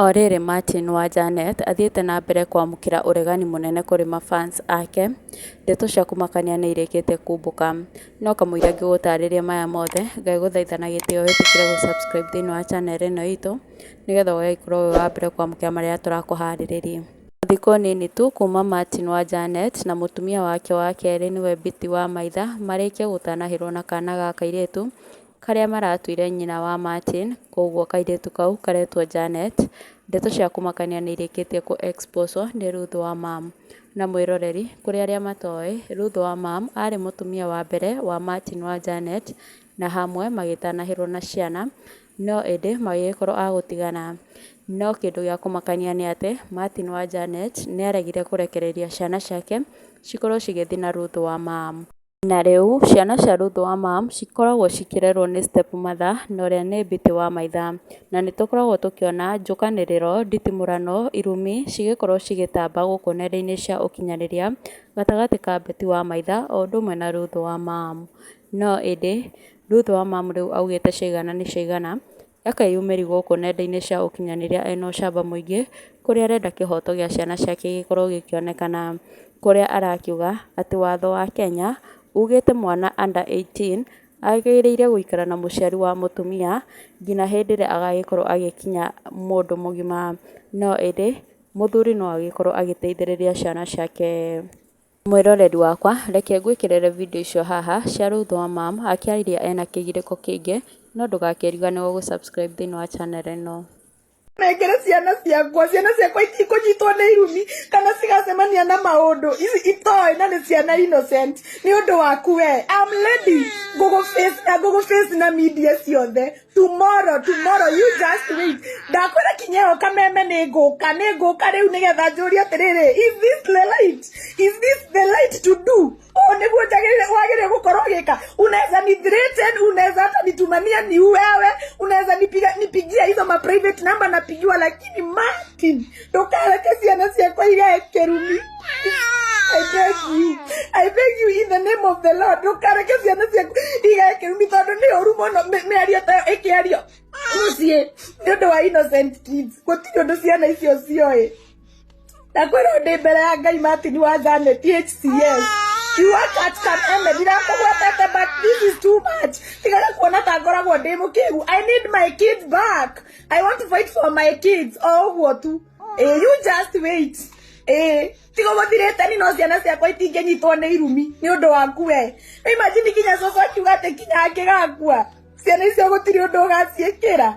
O rĩrĩ Martin wa Janet athiĩte na mbere kwamũkĩra ũregani mũnene kũrĩ ma fans ake, ndeto cia kũmakania nĩirĩkĩte kumbũka, no kamũira ngĩgũtarĩria maya mothe, Ngai ngũthaitha na gĩtĩo wĩtĩkĩre gũ subscribe thĩinĩ wa channel ĩno itũ, nĩgetha ũgagĩkorwo wĩ wa mbere kwamũkĩra marĩa tũrakũharĩrĩria. Thikũ nini tu kuma Martin wa Janet na mũtumia wake wa kerĩ nĩwe Biti wa maitha marĩkie gũtanahĩrwo na kana ga kairĩtu, karĩa maratuire nyina wa Martin, kwoguo kairĩtu kau karetwo Janet, ndeto cia kũmakania nĩ irĩkĩtie kũ exposwo nĩ Ruth wa Mam. Na mwĩroreri, kũrĩ arĩa matoĩ, Ruth wa Mam aarĩ mũtumia wa mbere wa Martin wa Janet, na hamwe magĩtanahĩrwo na ciana, no ĩndĩ magĩgĩkorwo a gũtigana. No kĩndũ gĩa kũmakania nĩ atĩ, Martin wa Janet nĩ aaregire kũrekereria ciana ciake cikorwo cigĩthiĩ na Ruth wa Mam. Na rĩu, ciana cia Ruth wa ma cikoragwo cikĩrerwo nĩ step mother na ũrĩa nĩ Biti wa maitha. Na nĩ tũkoragwo tũkĩona njũkanĩrĩro, nditimũrano, irumi cigĩkorwo cigĩtamba gũkũ nenda-inĩ cia ũkinyanĩria gatagatĩ ka Biti wa maitha o ũndũ ũmwe na Ruth wa ma. No ĩndĩ, Ruth wa ma rĩu augĩte ciaigana nĩ ciaigana. Reke yumĩri gũkũ nenda-inĩ cia ũkinyanĩria ena ũcamba mũingĩ kũrĩa arenda kĩhoto gĩa ciana ciake gĩkorwo gĩkĩonekana kũrĩa arakiuga atĩ watho wa Kenya ugĩte mwana under 18 agĩrĩire gũikara na mũciari wa mũtumia nginya hĩndĩ ĩrĩa agagĩkorwo agĩkinya mũndũ mũgima no ĩndĩ mũthuri no agĩkorwo agĩteithĩrĩria ciana ciake. Mwĩroreri wakwa, reke ngwĩkĩrĩre video icio haha cia Ruth wa Mum akĩaria ena kĩgirĩko kĩingĩ, no ndũgakĩriganĩrwo gũ subscribe thĩinĩ wa channel ĩno. nengere ciana ciakwa ciana ciakwa itikũnyitwo nĩ irumi kana cigacemania na maũndũ ici itoĩ na nĩ ciana innocent nĩ ũndũ waku we am lady ngũgũ face na ngũgũ face na media ciothe tomorrow tomorrow you just wait ndakwĩra kinya ĩyo kameme nĩ ngũka nĩ ngũka rĩu nĩgetha njũrie atĩrĩrĩ is this the light is this the light to do ũũ nĩguo njagĩrĩire wagĩrĩire gũkorwo gĩka unaweza ni threaten unaweza hata nitumania ni wewe unaweza nipiga nipigia hizo ma private number napigiwa lakini Martin ndũkareke ciana ciakwa igae kĩrumi I beg you. I beg you in the name of the Lord. Ndũkareke ciana ciaku igae kĩrumi tondũ nĩ ũru mũno mĩ- mĩario ta ĩyo ĩkĩario mũciĩ nĩ ũndũ wa innocent kids. Gũtirĩ ũndũ ciana icio cioĩ. Na kwĩrwo ndĩ mbere ya Ngai Martin wa Janet HCS. You work at San Eme, ndirakũgwetete but this is too much. Tigana kuona ta ngoragwo ndĩ mũkĩgu. I need my kids back. I want to fight for my kids o guo tu eh you just wait eh tigo guthirite ni no ciana ciakwa itingĩnyitwo nĩ irumi nĩ ũndũ waku we imagine kinya coco akiuga atĩ kinya angĩgakua ciana icio gũtirĩ ũndũ ũgaciĩkĩra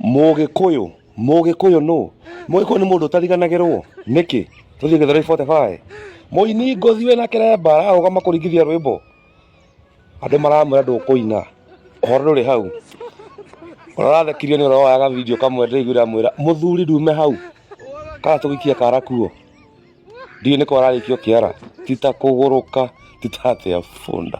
mũgĩkũyũ mũgĩkũyũ nũ mũgĩkũyũ nĩ mũndũ ũtariganagĩrwo nĩkĩ tũthiĩ gĩthero 45 mũini ngothi wĩna kĩremba ararũgama kũringithia rwĩmbo Andũ maramwĩra ndũkũina. Ũhoro ndũrĩ hau. Ũrathekirio nĩ ũrĩa woyaga video kamwe ndĩraiguĩra mwĩra mũthuri ndume hau. Kana tũgĩkie kara kuo. Ndiũĩ nĩkũ ararĩkia ũkĩara. Ti ta kũgũrũka, ti ta atĩa bunda.